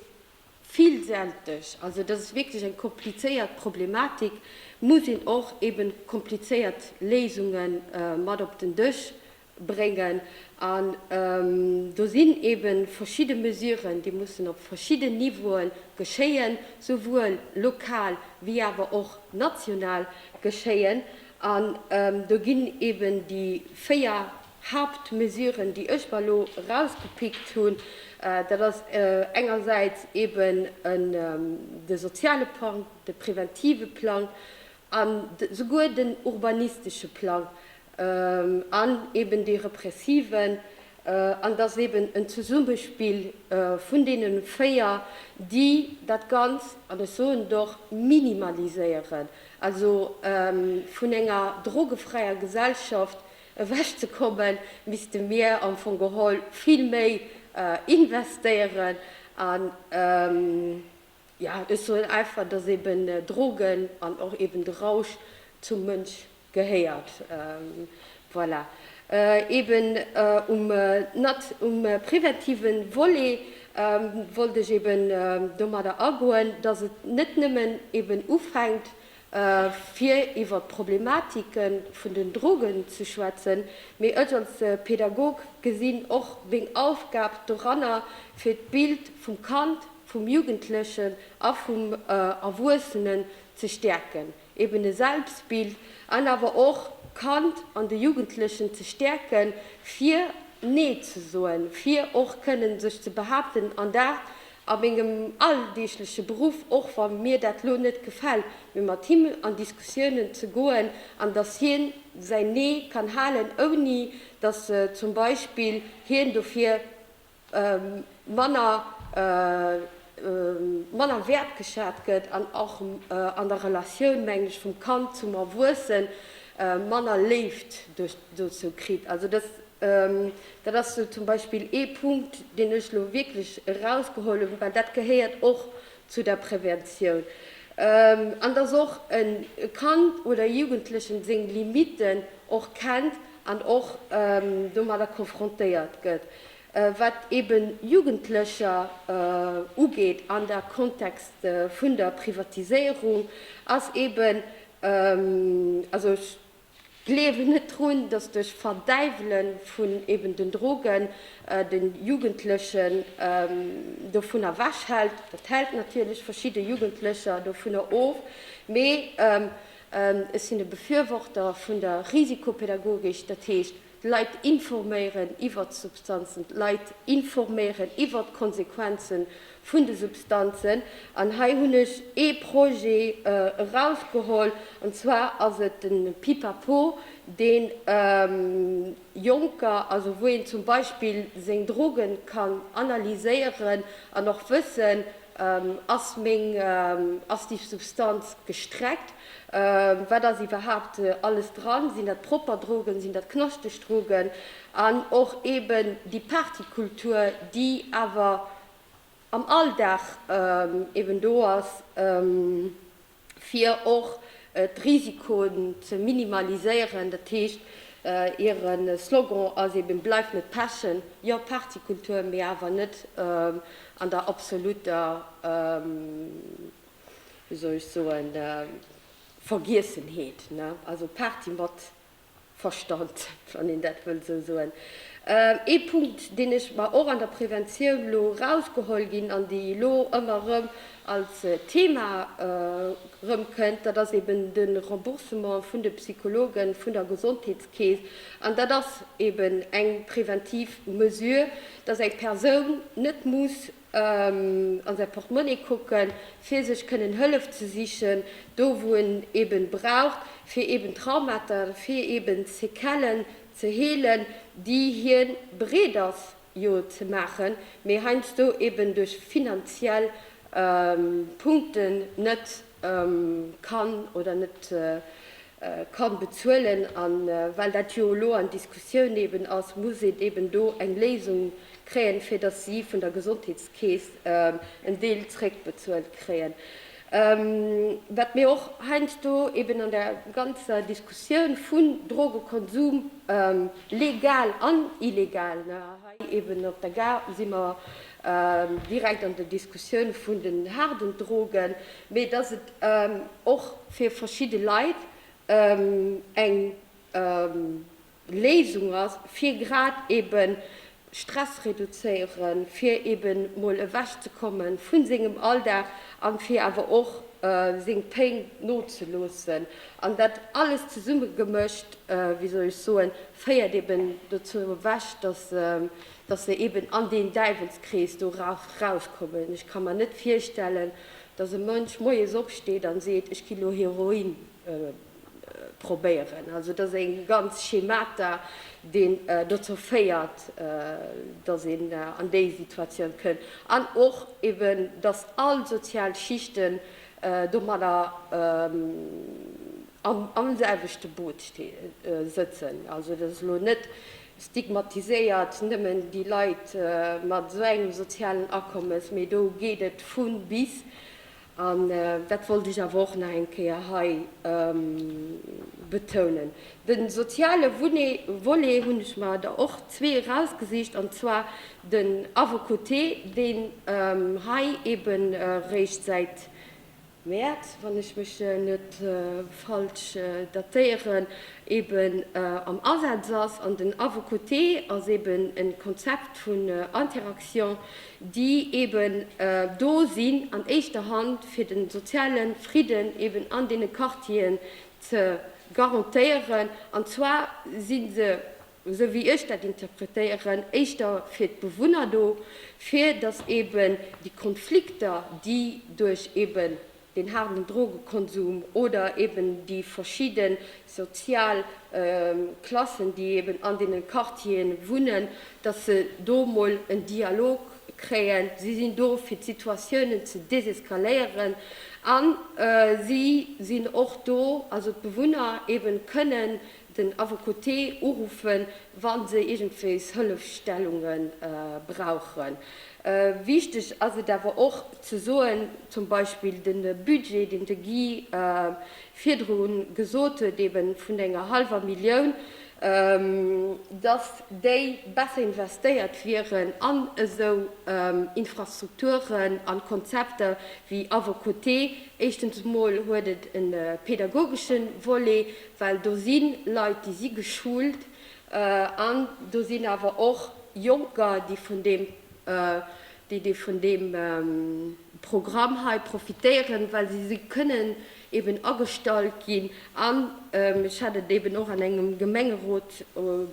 Speaker 1: villsälteg, also dat ass wierklech eng komplizéiert Problematik, muss een och eben komplizéiert Léisungen mat op den Dësch bréngen an do sinn ebe verschidde Mesuren, déi mussen op verschidden Niveaue geschéien, souwuel lokal wéi awer och national geschéien an do ginn eben déi véier Hauptmesuren, déi ech mer elo erausgepickt hunn, dat ass engersäits eben de soziale Plang, de preventive Plang an souguer den urbanistesche Plang an eben dee repressiven, an et ass eben en Zesummespill vun deene véier, déi dat Ganzt, an ech soen et och, minimaliséieren, also vun enger drogefräier Gesellschaft ewechzekommen, misste mir am Fong geholl vill méi investéieren an. Ja, ech soen einfach, dass eben Drogen an och eben de Rausch zum Mënsch gehéiert. Voilà. Eben um nat um präventive Volet wollt ech eben domadder agoen, dass et net nëmmen eben ufänkt fir iwwer d'Problematike vun den Drogen ze schwätzen, mee ech als Pedagog gesinn och meng Aufgab doranner, fir d'Bild vum Kand, vum Jugendlechen a vum Erwuessenen ze stäerken, eben e Selbstbild, an awer och d'Kand an de Jugendlechen ze stäerke fir Nee ze soen, fir och kënnen sech ze behaapten an dat, a mengem alldeegleche Beruff, och wa mir dat elo net gefält, mee mat him an Diskussiounen ze goen an datt hien säin Nee kann halen, ouni datt zum Beispill hien dofir manner manner wäertgeschat gëtt an och an der Relatioun, mengen ech, vum Kand zum Erwuessen manner Léift dozou kritt. Also dass. Dat ass zum Beispill ee Punkt, deen ech elo wierklech erausgeholl hunn, well dat gehéiert och zu der Präventioun. An dass och e Kand oder e Jugendlechen seng Limitten och kennt an och domadder konfrontéiert gëtt, wat eben Jugendlecher ugeet. An der Kontext vun der Privatiséierung ass eben, also ech, Gleewen net drun, dass duerch Verdäiwelen vun eben den Drogen den Jugendlechen dovun ewech hält. Dat hält natierlech verschidde Jugendlecher dovunner of, mee ech sinn e Befürworter vun der Risikopädagogik, dat heescht, D'Leit informéieren iwwert d'Substanzen, d'Leit informéieren iwwert d'Konsequenze vun de Substanzen. An hei hunn ech ee Projet erausgeholl, an zwar ass et de Pipapo, dee Jonker, also wou een zum Beispill seng Droge kann analyséieren an och wëssen, ass meng aktiv Substanz gestreckt. Wat ass iwwerhaapt alles dran? Sinn dat propper Drogen, sinn dat knaschteg Drogen? An och eben déi Partykultur, déi awer am Alldag eben do ass, fir och d'Risikoen ze minimaliséieren. Dat heescht, hire Slogan ass eben, Bleif net pechen! Jo, Partykultur, mee awer net an der absoluter. wéi soll ech soen, Vergiessenheet, ne, also Party mat Verstand, wann een dat wëll esou soen. Ee Punkt, deen ech mer och an der Preventioun elo erausgeholl ginn an déi elo ëmmer erëm als Thema erëmkënnt, dat ass eeben de Remboursement vun de Psychologe vun der Gesondheetskeess. An dat ass eeben eng preventiv Mesure, dass eng Persoun net muss an säi Portmonni kucken, fir sech kënnen Hëllef ze sichen, do wou en eben braucht, fir eben Traumata, fir eben Séquellen ze heelen, déi hien bereet ass jo ze maachen, mee heiansdo eben duerch finanziell Punkten net kann oder net kann bezuelen. A well dat jo elo an Diskussioun eben ass, muss een eben do eng Léisung kréien, fir datt si vun der Gesondheetskeess en Deel zréckbezuelt kréien. Wat mir och heiansdo eben an der ganzer Diskussioun vun Drogekonsum, legal an illegal, hei eben op der Gare si mer direkt an der Diskussioun vun den haarden Drogen, mee dass et och fir verschidde Leit eng Léisung ass, fir grad eebe Stress reduzéieren, fir eebe mol ewech ze komme vu sengem Alldag a fir awer och seng Péng nozeloossen. An dat alles zesummegemëscht, wéi soll ech soen, féiert eeben dozou ewech, dass dass mir eben an deen Däiwelskrees do rauschkommen. Ech ka mer net virstellen, dass e Mënsch moies opsteet an seet, ech ginn elo Heroin probéieren. Also dat ass e ganzt Schemata, deen dozou féiert, dass een an déi Situatioun kënnt an och eben, dass all sozial Schichten domadder am selwechte Boot sëtzen. Also dat ass elo net stigmatiséiert nëmmen déi Leit mat esou engem sozialen Akommes, mee do geet et vun bis, an dat wollt ech awer och nach eng Kéier hei betounen. De soziale Volet hunn ech mer der och zwee erausgesicht, an zwar den à vos côtés, deen hei eeben eréischt säit, Mäerz, wann ech mech net falsch datéieren, eben am Asaz ass. An den A vos côtés ass eben e Konzept vun Interaction, déi eben do sinn an éischter Hand, fir de soziale Fridden eben an deene Quartieren ze garantéieren. An zwar si se esou wéi ech dat interpretéieren, éischter fir d'Bewunner do, fir datt eben déi Konflikter, déi duerch eben den haarden Drogekonsum oder eben déi verschidde sozial Klassen, déi eben an deene Quartiere wunnen, datt se do mol en Dialog kréien. Si sinn do, fir d'Situatiounen ze deseskaléieren a si sinn och do, also d'Bewunner eben kënnen den Affekoté uruffen, wa se iergendwéis Hëllefstellunge brauchen. Wichteg ass et awer och ze soen, zum Beispill de Budget, deen de Guy virdru gesot huet, ebe vun enger hallwer Millioun, dass déi besser investéiert wieren an esou Infrastrukturen a Konzepter wéi Affekoté. Éischtens emol huet et e pädagogesche Volet. Well do si Leit, déi si geschult an do sinn awer och Jonker, déi vun deem, déi, déi vun deem Programm hei profitéieren, well si, si kënnen eeben agestallt ginn an, ech hat et eeben och an engem Gemengerot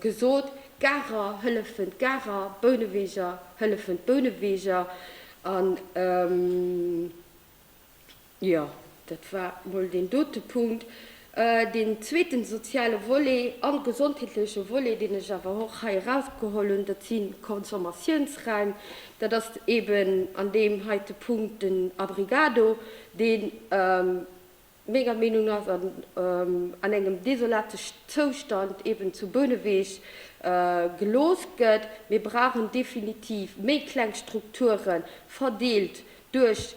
Speaker 1: gesot, d'Garer hëllefen d'Garer, d'Bouneweger hëllefen d'Bouneweger an. Jo, dat war mol deen dote Punkt. Deen zweeten soziale Volet an de gesondheetleche Volet, deen ech awer och hei erausgeholl hunn, dat si Consommatiounsräim. Dat ass eben an deem heite Punkt den Abrigado, dee menger Meenung no an engem desolate Zoustand eben zu Bouneweg gelooss gëtt. Mir brauchen definitiv méi kleng Strukturen, verdeelt duerch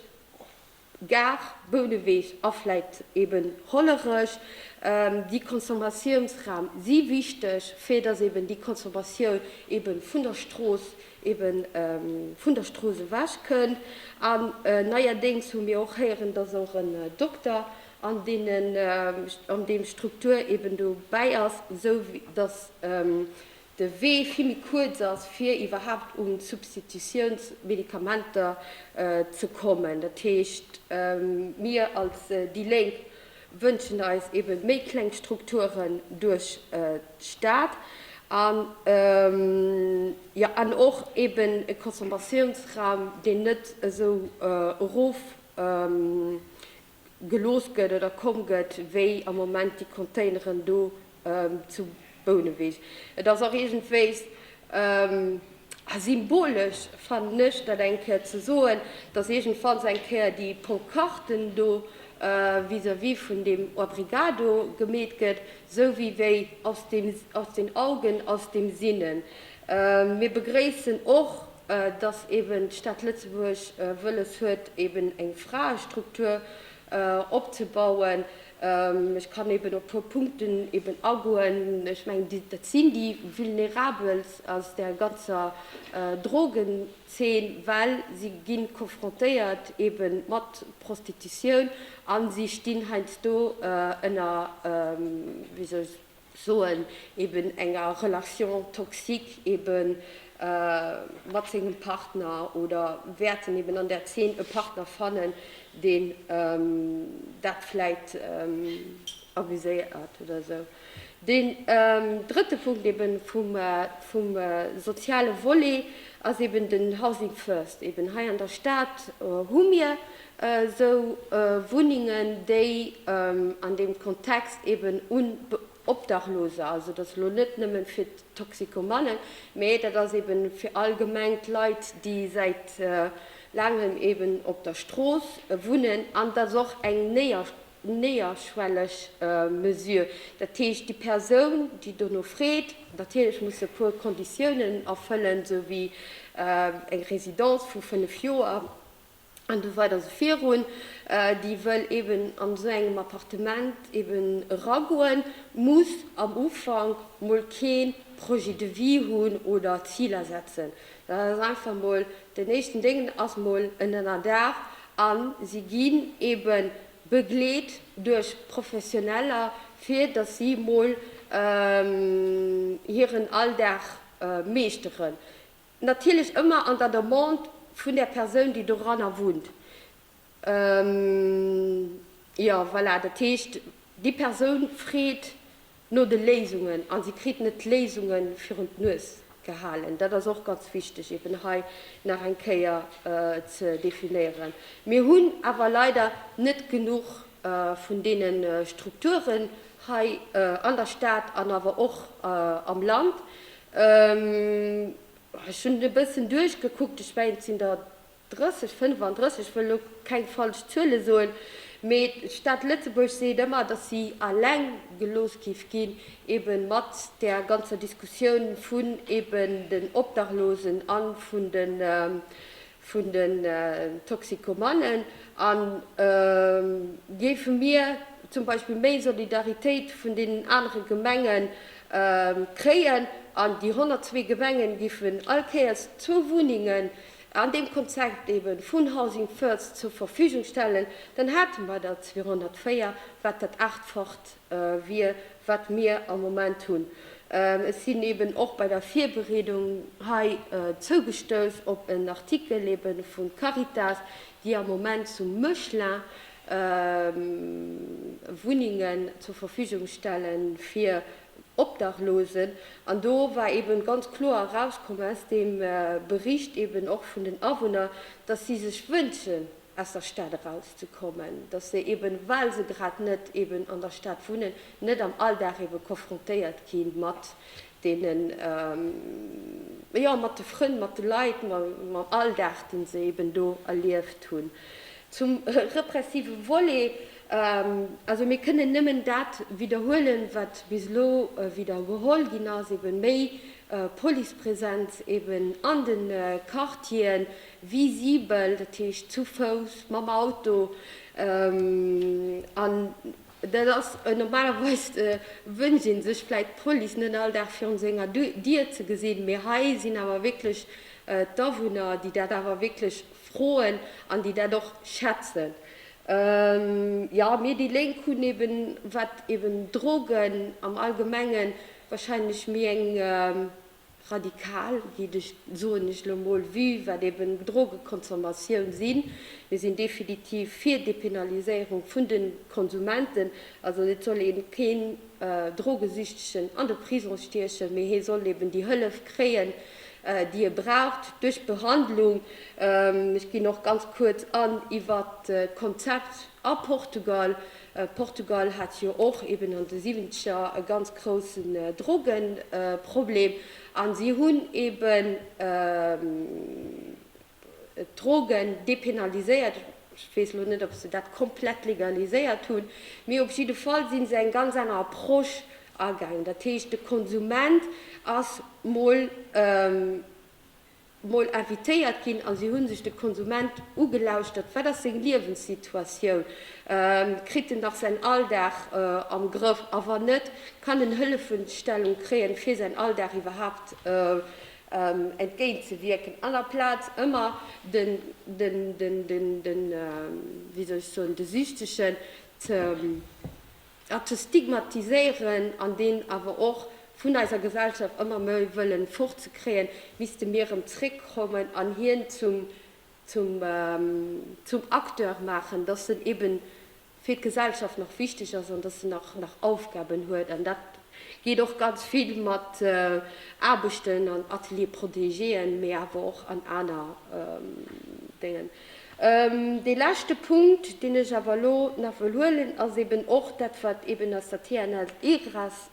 Speaker 1: Gare, Bouneweg a vläit eben Hollerech, déi Consommatiounsraum si wichteg, fir datt eben déi Consommatioun ebe vun der Strooss, eben vun der Strooss ewech kënnt. An neierdéngs hu mir och héieren, datt och en Dokter an deenen, an deem Struktur eben dobäi ass, esou datt de Wee vill méi kuerz ass, fir iwwerhaapt un d'Substitutiounsmedikamenter ze kommen. Dat heescht, mir als déi Lénk wënschen eis ebe méi kleng Strukturen duerch d'Stad an, jo, an och eben e Consommatiounsraum, deen net esou erof gelooss gëtt oder komm gëtt, wéi am Moment déi Containeren do zu Bouneweg. Et ass och iergendwéi symbolesch, fannen ech, dat eng Kéier ze soen, datt iergendwanns eng Kéier déi Ponkarten do vis-à-vis vun deem Obrigado gemeet gëtt, esou wéi wéi aus den Augen, aus dem Sinnen. Mir begréissen och. dass eben d'Stad Lëtzebuerg wëlles huet, eben eng Fraestruktur opzebauen. Ech kann eben op e puer Punkten eben agoen. Ech mengen, dat sinn déi Vulnerabelst aus der ganzer Drogenzeen, well si gi confrontéiert eben mat Prostitutioun a si stinn heiansdo ënner, wéi soll ech soen, eben enger Relation toxique eben mat sengem Partner oder wäerten eben an där Zeen e Partner fannen, deen dat vläit abuséiert oder esou. Deen drëtte Punkt eben vum soziale Volet ass eben den Housing First. Eben hei an der Stad hu mir esou Wunnengen, déi an deem Kontext eben un Obdachloser, also dat ass elo net nëmmen fir d'Toxikomannen, mä dat ass eben fir allgemeng d'Leit, déi säit laangem eben op der Strooss wunnen, an dat ass och eng néierschwelleg Mesure. Dat heescht, déi Persoun, déi dono freet, natierlech muss se e puer Konditiounen erfëllen, esou wéi eng Residence vu fënnef Joer, an esou weider esou virun, déi wëll eben an esou engem Appartement eben eragoen, muss am Ufank mol kee Projet de vie hunn oder Ziler setzen. Dat ass einfach mol den éischten Déng, ass mol en Ënnerdaach a si ginn ebe begleet duerch Professioneller, fir datt si mol hiren Alldag meeschteren. Natierlech ëmmer an der Demande vun der Persoun, déi doranner wunnt. Jo, voilà, dat heescht, déi Persoun freet no de Léisungen a si kritt net d'Léisunge virun d'Nues gehalen. Dat ass och ganz wichteg eeben hei nach eng Kéier ze definéieren. Mir hunn awer leider net genuch vun deene Strukturen hei an der Stad an awer och am Land, Ech hunn e bëssen duerchgekuckt, ech mengen, et sinn der 30, 35, ech wëll elo keng falsch Zuele soen, mee d'Stad Lëtzebuerg seet ëmmer, datt si eleng gelooss géif ginn, ebe mat där ganzer Diskussioun vun eben den Obdachlosen a vun de vun den Toxikomanen an géife mir zum Beispill méi Solidaritéit vun deenen anere Gemenge kréien an déi 102 Gemenge géifen all Kéiers zwou Wunnengen an deem Konzept ebe vun Housing First zur Verfügung stellen, dann hate mer der 204, wat dat Aachtfacht. wier, wat mir am Moment hunn. Ech sinn eben och bei der Virbereedung hei zougestouss op en Artikel ebe vu Caritas, déi am Moment zu Mechlin Wunnengen zur Verfügung stelle fir Obdachlosen. An do war eben ganz kloer erauskomm aus deem Bericht eben och vun den Awunner, dass si sech wënschen, aus der Stad erauszekommen, dass se eben, well se grad net eben an der Stad wunnen, net am Alldag eben konfrontéiert gi mat deene, jo, mat de Frënn, mat de Leit, mam Alldag, dee se eben do erlieft hunn. Zum repressive Volet, also mir kënnen nëmmen dat widderhuelen, wat bis elo widdergeholl ginn ass, eben méi Policepräsenz eben an de Quartieren, Visibel, dat heescht zu Fouss, mam Auto, an dat ass normalerweis, wënscht ee sech vläit d'Police net all Dag virun senger Dier ze gesinn, mee hei sinn awer wierklech d'Awunner, déi dat awer wierklech froen an déi dat och schätzen. Jo, mir déi Lénk hunn eeben, wat eeben Drogen am Allgemengen, wahrscheinlech méi eng radikal geet ech soen ech elo mol, vue wat eben Drogekonsommation sinn. Mir sinn definitiv fir Dépénaliséierung vun de Konsumenten. Also et soll een keen Drogesüchtegen an de Prisong stiechen, mee hie soll eben déi Hëllef kréien déi e braucht duerch Behandlung. Ech ginn och ganz kuerz an iwwert d'Konzept a Portugal. Portugal hat jo och eben an de Siwwenzeger e ganz groussen Drogenproblem a si hunn eben d'Drogen dépénaliséiert. Ech weess elo net, ob se dat komplett legaliséiert hunn, mee op jidde Fall si se eng ganz aner Approche agaangen. Dat heescht, de Konsument ass mol. mol invitéiert ginn a si hu sech de Konsument ugelauschtert, wat ass seng Liewenssituatioun, kritt en nach säin Alldag am Grëff a wann net, kann en Hëllefestellung kréien, fir säin Alldag iwwerhaapt entgéintzewierken, an aplaz ëmmer de, de, de, wéi soll ech soen, de Süchtegen ze. a ze stigmatiséieren an deen awer och vun eiser Gesellschaft ëmmer méi wëllen fort ze kréien, misste mir erëm zréck kommen an hien zum zum zum Acteur maachen, dass en eben fir d'Gesellschaft nach wichteg ass an dass en nach nach Aufgaben huet an dat geet och ganz vill mat Aarbechten an Atelier-Protegéen, mee awer och an aner Déngen. Dee leschte Punkt, deen ech awer elo nach wëll huelen, ass eeben och dat, wat eeben aus der TNS Egras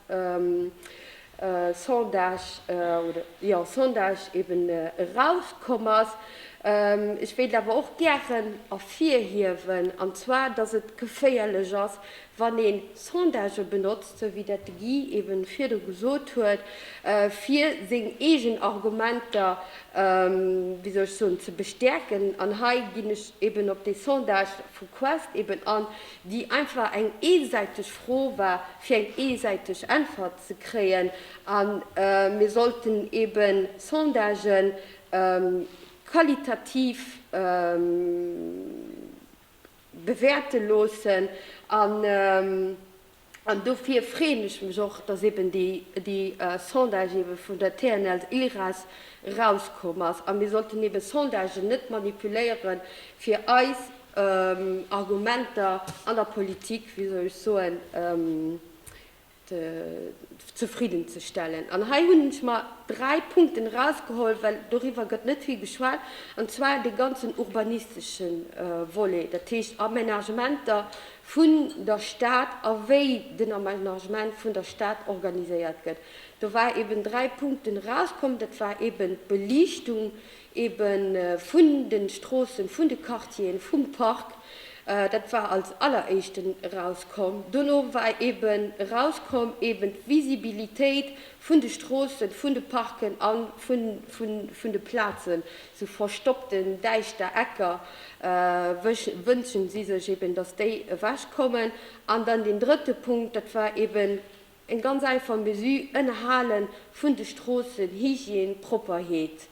Speaker 1: Sondage, oder, jo, Sondage eeben erauskomm ass. Ech wéilt awer och gären ervirhiewen, an zwar, dass et geféierlech ass, Wann een Sondagë benotzt, sou wéi dat de Guy ebe virdru gesot huet, fir seng eegen Argumenter, wéi soll ech soen, ze bestäerken, an hei ginn ech eben op dee Sondage vu Quest eben an, déi einfach eng eensäiteg Fro war, fir eng eensäiteg Äntwert ze kréien, a mir sollten ebe Sondagen qualitativ. bewäerte loossen an dofir freeën ech mech och, dass eben déi Sondage ebe vun der TNS Ilres erauskomm ass. A mir sollten ebe Sondagen net manipuléiere fir eis Argumenter an der Politik, wéi soll ech soen, zefridden ze stellen. An hei hunn ech mer dräi Punkten erausgeholl, well doriwwer gëtt net vill geschwat, an zwar dee ganzen urbanistesche Volet, dat heescht Amenagementer vun der Stad a wéi den Amenagement vun der Stad organiséiert gëtt. Do war eben dräi Punkten erauskomm, dat war eben d'Beliichtung, eben vun den Stroossen, vun de Quartieren, vum Park, dat war als alleréischten erauskomm. Dono war eben erauskomm eben d'Visibilitéit vun de Stroossen, vun de Parken a vun de Plazen, sou verstoppten, däischter Ecker, wënschen si sech eben, dass déi ewechkommen. An dann deen drëtte Punkt, dat war eben. Eng ganz einfach Mesure, Ënnerhale vun de Stroossen, Hygiène, Propperheet.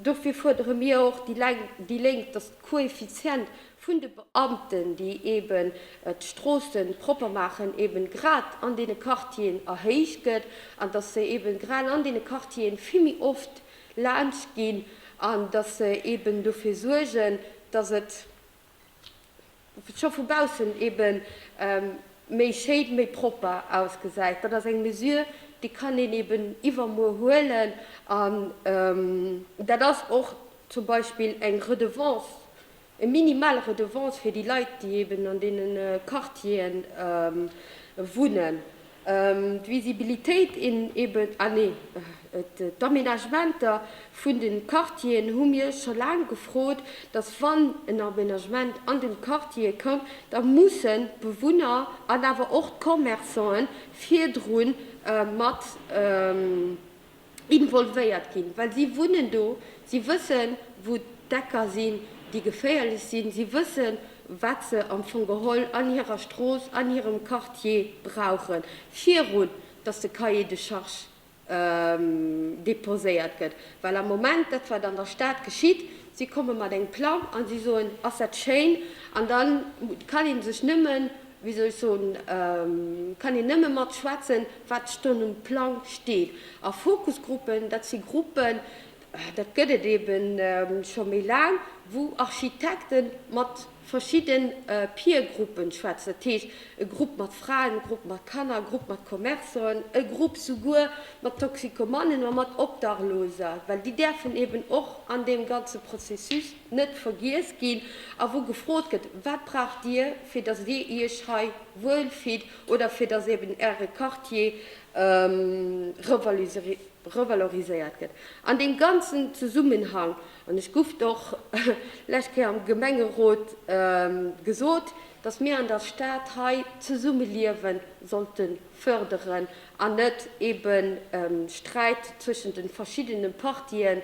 Speaker 1: Dofir fuerdere mir och, déi Lénk, datt de Koeffizient vun de Beamten, déi eeben d'Stroosse propper maachen, eeben grad an deene Quartieren erhéicht gëtt an datt se eeben grad an deene Quartieren vill méi oft laanscht ginn an datt se eeben dofir suergen, datt et scho vu baussen ebe méi schéin, méi propper ausgesäit. Dat ass eng Mesure, déi kann een eben iwwermuer huelen. An dat ass och zum Beispill eng Redevance, eng minimal Redevance fir déi Leit, déi eben an deene Quartieren wunnen. D'Visibilitéit eben, ah nee, d'Aménagementer vun de Quartieren hu mir scho laang gefrot, datt wann en Aménagement an de Quartiere kënn, da mussen d'Bewunner an awer och d'Commerçanten virdru mat. involvéiert ginn, well si wunnen do, si wëssen, wou d'Ecker sinn, déi geféierlech sinn, si wëssen, wat se am Fong geholl an hirer Strooss, an hirem Quartier brauchen, virun datt de Cahier de charges déposéiert gëtt. Well am Moment, dat wat an der Stad geschitt, Si komme mat engem Plang an si soen, Ass dat schéin? An da kann ee sech nëmmen, wéi soll ech soen, kann een nëmme mat schwätzen, wat schonn um Plang steet. A Fokusgruppen, dat si Gruppen, dat gëtt et eeben scho méi laang, wou Architekte mat. verschidde Peer-Gruppen schwätzen, dat heescht e Grupp mat Fraen, e Grupp mat Kanner, e Grupp mat Commerçanten, e Grupp souguer mat Toxikomannen a mat Obdachloser, well déi däerfen eben och an deem ganze Processus net vergiess ginn, a wou gefrot gëtt, Wat braucht Dir, fir datt Dir Iech hei wuel fillt oder fir datt eben Äre Quartier revaloriséiert? revaloriséiert gëtt an deem ganzen Zesummenhang, an ech guff d'och lescht Kéier am Gemengerot gesot, dass mir an der Stad hei d'Zesummeliewe sollte förderen an net ebe Sträit zwëschen de verschiddene Partien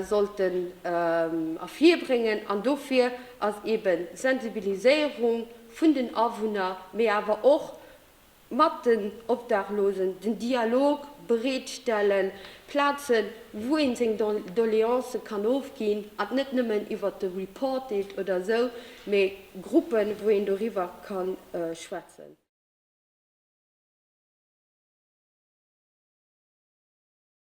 Speaker 1: sollte ervirbréngen an dofir ass ebe Sensibiliséierung vun den Awunner, mee awer och mat den Obdachlosen den Dialog bereetstellen, Plazen, wou ee seng Doleancë kann ofginn, an net nëmmen iwwert de Reportage oder esou, mee Gruppen, wou een doriwwer ka schwätzen.